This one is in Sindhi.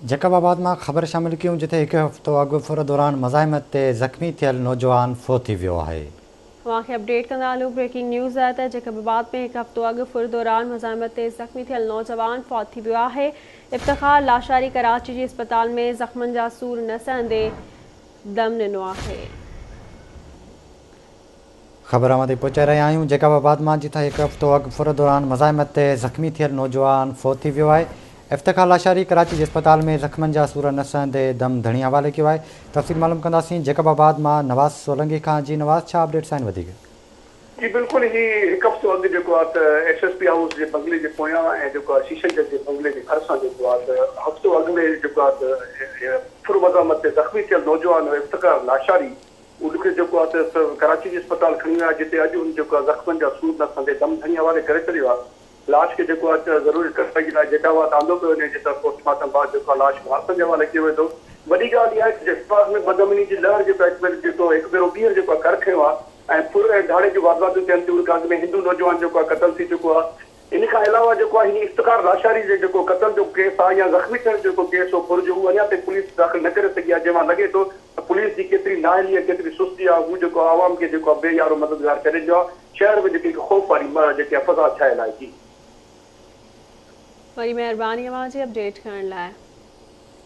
جيڪب آباد مان خبر شامل ڪيون جتي هڪ هفتو اڳ ڦر دوران مزاحمت تي زخمي ٿيل نوجوان فوت ٿي ويو آهي. اوهان کي اپڊيٽ ڪندا هلون بريڪنگ نيوز آهي ته جيڪب آباد ۾ هڪ هفتو اڳ ڦر دوران مزاحمت تي زخمي ٿيل نوجوان فوت ٿي ويو آهي افتخار لاشاري ڪراچي جي اسپتال ۾ زخمن جا سور نه سهندي دم ڏنو آهي. خبر اوهان تائين پهچائي رهيا آهيون جيڪب آباد مان جتان هڪ هفتو اڳ ڦر دوران مزاحمت تي زخمي ٿيل نوجوان فوت ٿي ويو آهي افتخار لاشاري ڪراچي جي اسپتال ۾ زخمن جا سور نه سهندي دم ڌڻي حوالي ڪيو آهي تفصيل معلوم ڪنداسين جيڪب آباد مان نواز سولنگي کان جي نواز ڇا اپڊيٽس آهن وڌيڪ. جي بلڪل هي هڪ هفتو اڳ جيڪو آهي ته ايس ايس پي هائوس جي بنگلي جي پويان ۽ جيڪو آهي شيشن جج جي بنگلي جي ڀر سان جيڪو آهي ته هفتو اڳ ۾ جيڪو آهي ته ڦر مزاحمت تي زخمي ٿيل نوجوان افتخار لاشاري ان کي جيڪو آهي سو ڪراچي جي اسپتال کڻي ويا جتي اڄ هن جيڪو آهي زخمن جا سور نه سهندي دم ڌڻي حوالي ڪري ڇڏيو آهي. لاش کي جيڪو آهي سو ضروري ڪارروائي جي لاء جيٽاوات آندو پيو وڃي جتي پوسٽ مارٽم بعد جيڪو آهي لاش وارثن جي حوالي ڪيو ويندو. وڏي ڳالهه اها آهي ته جيٽاوات ۾ بدامني جي لهر جيڪو آهي هڪ ڀيرو جيڪو هڪ ڀيرو ٻيهر جيڪو آهي ڪر کنيو آهي ۽ ڦر ۽ ڌاڙي جون وارداتون ٿين ٿيون ان کان اڳ ۾ هندو نوجوان جيڪو آهي قتل ٿي چڪو آهي. ان کان علاوه جيڪو آهي هن افتخار لاشاري جي جيڪو قتل جو ڪيس آهي يا زخمي ٿيڻ جو جيڪو ڪيس هو پرجو اهو اڃا تائين پوليس داخل نه ڪري سگهي آهي جنهن مان لڳي ٿو ته پوليس جي ڪيتري نااهلي ۽ ڪيتري سستي آهي هو جيڪو آهي عوام کي جيڪو آهي بي يارو مددگار ڪري رهيو آهي شهر ۾ جيڪي هڪ خوف واري جيڪي آهي فضا ڇانيل آهي جي. وڏي مهرباني اوهان جي اپڊيٽ ڪرڻ لاء.